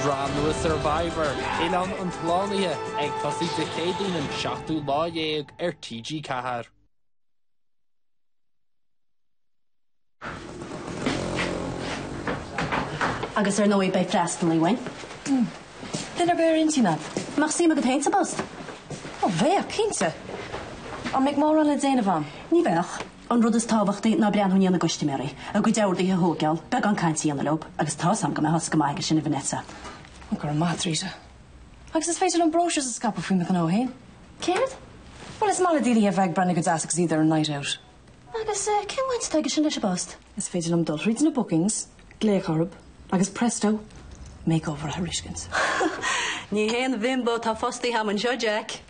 Sraith nua Survivor, Oileán an tSlánaithe, ag tosaí Dé Céadaoin an seachtú lá déag ar TG4. Agus ar ndóigh beidh freastalaí uainn. Mm. Duine ar bith ar intinn a'd? Nach suim agat féin sa bpost? Ó bheadh, cinnte. An mbeidh mórán le déanamh ann? Ní bheadh. An rud is tábhachtaí ná breathnú i ndiaidh na gcuistiméaraí, a gcuid orduithe a thóigeál, beagán cainte a dhéanamh leob, agus tá's a'm go mbeifeása go maith aige sin, a Vanessa. Ó, go raibh maith a'd, Rita. Agus is féidir liom brochures a scaipeadh faoi mo ghnó fhéin. Céard? Bhuel, is maith le daoine a bheith ag breathnú go deas agus iad ar a night out. Agus eh, cén bhaint atá aige sin leis an bpost? Is féidir liom dul thríd na bookings, glaoch orthub, agus presto, makeover a thairiscint. Ní haon bhimbo atá fostaithe a'm anseo, Jack.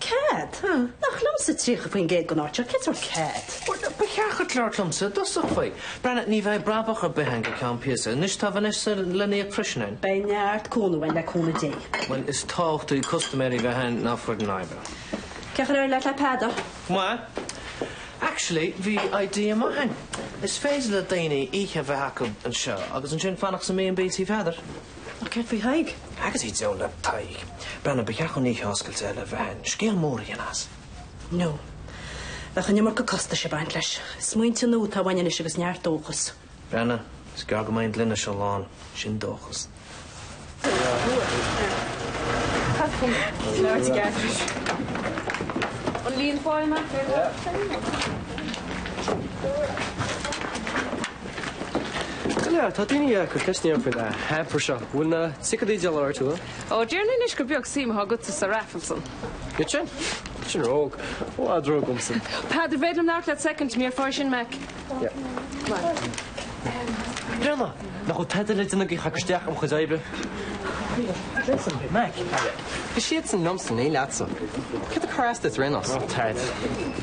Cead? Nach liomsa 30% den áit seo? Cén sórt cead? Ba cheart duit labhairt liomsa i dtosach faoi. Breathnaigh, ní bheidh brabach ar bith ann go ceann píosa. Anois, tá Vanessa le n-íoc freisin a'ainn. Beidh neart cúnamh uainn, le cúnamh Dé. Bhuel, is tábhachtaí custaiméirí bheith ann ná foireann oibre. Cén chaoi ar éirigh leat le Peadar? Bhuel, actually, bhí idea maith a'ainn. Is féidir le daoine oíche a bheith acu anseo agus ansin fanacht sa mB&B Tí Pheadair. Céard faoi Thaidhg? Agus go deo le Tadhg, breathnaigh, ba cheart dúinn oíche oscailte eile a bheith a'ainn, scéal mór a dhéanamh as. No. Bheadh an iomarca costais ag baint leis. Smaointe nua atá uainn anois agus neart dóchais. Breathnaigh, is gearr go mbeidh an gloine seo lán, sin dóchas. An líon fáil amach ar an lá seo? Go leor, tá daoine ag cur ceisteanna faoin hamper seo. Bhfuil na ticéid díolta ar fad? Ó, déarfainn anois gur beag suim atá agatsa sa raffle san. Tuige sin? Sin ró-óg. Ó, adh ró dhomsa. Peadar, an féidir liom labhairt leat soicind, just for a second, Mac. Breathnaigh, nach bhfuil tada le déanamh agat ach ag cur isteach ar mo chuid oibre? Mac, is é an scéal céanna liomsa, ní leatsa. Cad a chuir as duit, Reynolds? Ó, tada.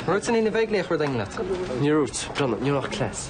Rud san Fhine bheidh léi a chur daingean leat. Níor rúit, breathnaigh, níor fhág cleas.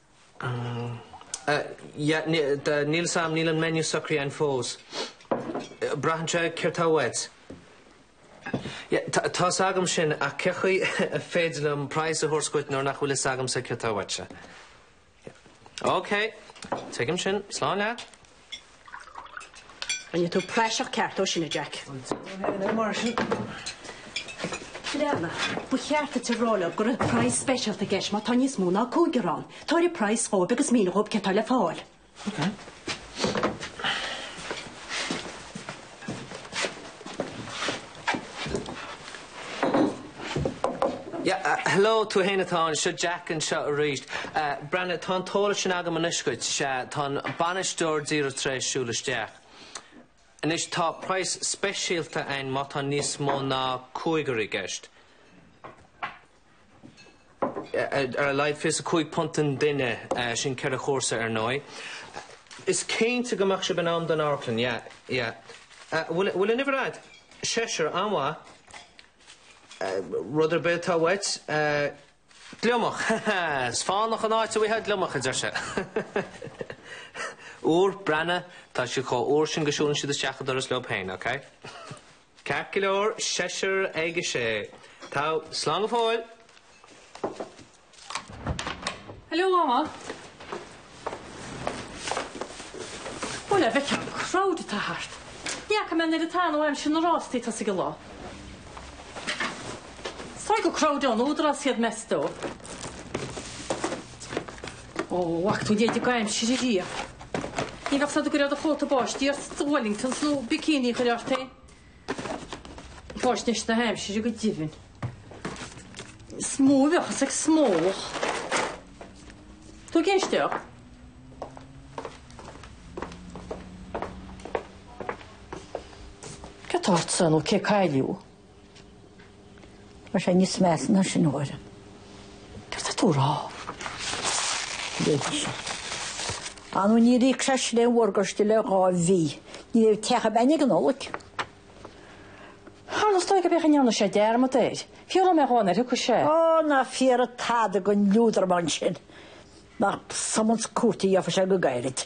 Yeah, níl a fhios a'm, níl an menu socraithe a'ainn fós. Braitheann sé céard tá uait. Yeah, tá, tá fhios agam sin ach cén chaoi ar féidir liom price a thabhairt dhuit nuair nach bhfuil a fhios agamsa céard tá uaitse? Yeah. OK, tuigim sin. Slán leat. Rinne tú praiseach ceart dhó sin, a Jack. Breathnaigh, ba cheart duit a rá leo go raibh price speisialta i gceist má tá níos mó ná cúigear ann. Tabhair an price dhóibh agus mínigh dhóibh céard atá le fáil. Hello tú fhéin atá ann, seo Jack anseo arís. Breathnaigh, tá an t-eolas sin agam anois dhuit, sea, tá an bainisteoir díreach tar éis siúl isteach. Anois, tá praghas speisialta ann má tá níos mó ná cúigear i gceist. ar a laghad £25 an duine, sin ceithre chúrsa ar ndóigh. Is cinnte go mbeadh sibh in am don amharclann, yeah, yeah. Bhfuil, bhfuil an uimhir agat? Seisear, an-mhaith. Rud ar bith atá uait, gliomach, ha ha, is fánach an áit a bhfuightheá gliomach, a deir sé. Úr, breathnaigh, tá siad chomh úr sin go siúlann siad isteach an doras leo féin, ok. Ceart go leor, seisear ag a sé. Tá slán go fóill. Hello, Mama. Bhuel, an bhfeiceann tú an crowd atá thart. Ní fhaca mé an oiread atá ann ó aimsir na rástaí tosaigh i lá. Is dóigh gur crowd ón Údarás iad, meas tú. Ó, ach tú d'fhéadfadh aimsir a ríomh. Ní bheadh a fhios agat go raibh do chóta báistí ort sa Wellingtons nó bikini a chur ort féin. Fáisnéis na haimsire go deimhin. Is mó a bheadh a fhios ag smólach. Tú ag éisteacht? Cad atá ortsa, nó cé a cailleadh? Tá sé níos measa ná sin, a Mháire. Céard atá tú a rá? Léigíseal. Á nó níor íoc sé sin a mhorgáiste le dhá mhí. Ní bheidh teach ar bith againn ag an Nollaig. Tharla is dóigh go mbeadh a ndéanadh sé dearmad air. Fiú dá mbeadh Eoin air, thuigfeadh sé. Ó, ná fiafraigh tada den liúdramán sin. Nach summons cúirte a gheobhas sé go gairid.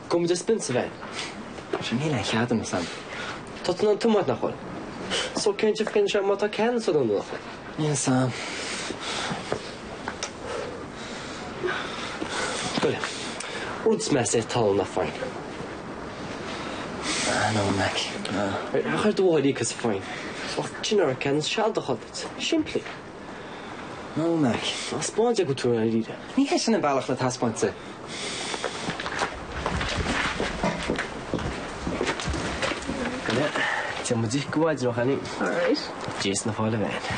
Go mba spin sa bhean. Sea, níl aon chead agamsa. Tá tú in ann tiomáint, nach bhfuil? So cén difríocht é má tá ceadúnas nó nach bhfuil? Níl san. Go le. Rud is measa é tallann nach fain. Ah, no, Mac, no. Chuir do mháthair Íoca sa phoinn. Sin ar cheadúnas sealadach duit. Simplí. Nó na taispeáint acu tar éis ire. Ní hé sin an bealach le taispeáint de. Bhuel, téann muid i gcaidreamh againn. Alright. Just a fáil amháin.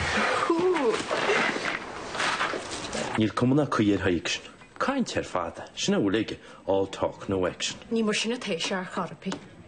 Cool! Níl cuma ná caoi ar Mhac sin. Caint ar fad, sin a bhfuil aige, all talk, no action. Ní mar sin atá sé, a chara P.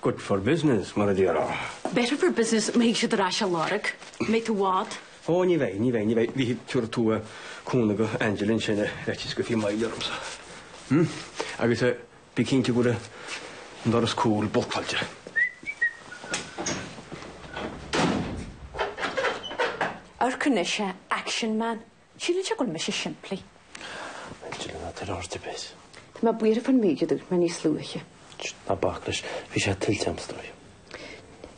Good for business, mar a déarfá. Better for business, má thig siad ar ais a lorg. Made to what? Ó, ní bheidh, ní bheidh, ní bheidh. B'fhéidir go dtabharfadh tú cúnamh do Angela ansin a bheitís go fiamáil ormsa. Hm? Agus eh, bí cinnte go raibh an doras cúil boltáilte. Amharc anois eh, action man. Síleann sé go bhfuil mise simplí. Bhuel, deireann na fir ort ar bith. Tá mé buartha fán méid a dúirt mé níos luaithe. Ná bac leis. Bhí sé tuillte a'm is dóigh.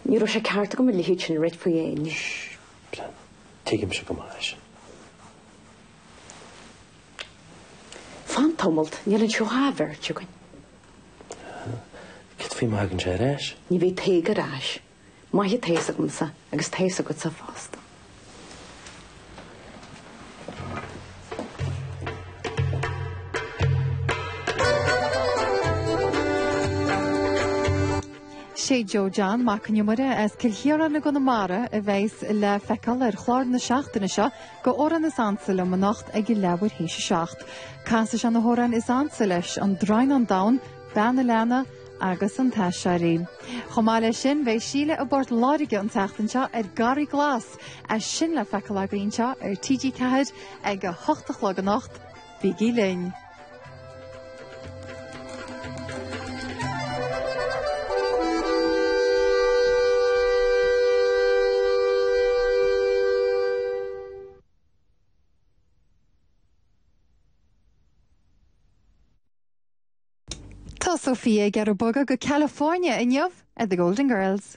Ní raibh sé ceart agam a leithéid sin a ráit faoi éinne. Sh, brenn. Tuigimse go maith é sin. Fan tamallt, níl anseo ach an bheirt againn. Cad faoi má thagann sé ar ais? Ní bheidh Tadhg ar ais. Maith atá a fhios agamsa agus tá a fhios agatsa fosta. Sé Joe John Mac an Iomaire as Cill Chiaráin i gConamara a bheas le feiceáil ar chlár na seachtaine seo de Amhráin is ansa liom anocht ag leathuair théis a seacht. Casfaidh sé na hamhráin is ansa leis, An Droighneán Donn, Bean an Leanna, agus An tAiséirí. Chomh maith leis sin, beidh Síle i bPort Láirge an tseachtain seo ar Garraí Glas, é sin le feiceáil againn anseo ar TG4 ag a hocht a chlog anocht. Bígí linn! Tá Sophia ag iarraidh bogadh go California inniu ar The Golden Girls.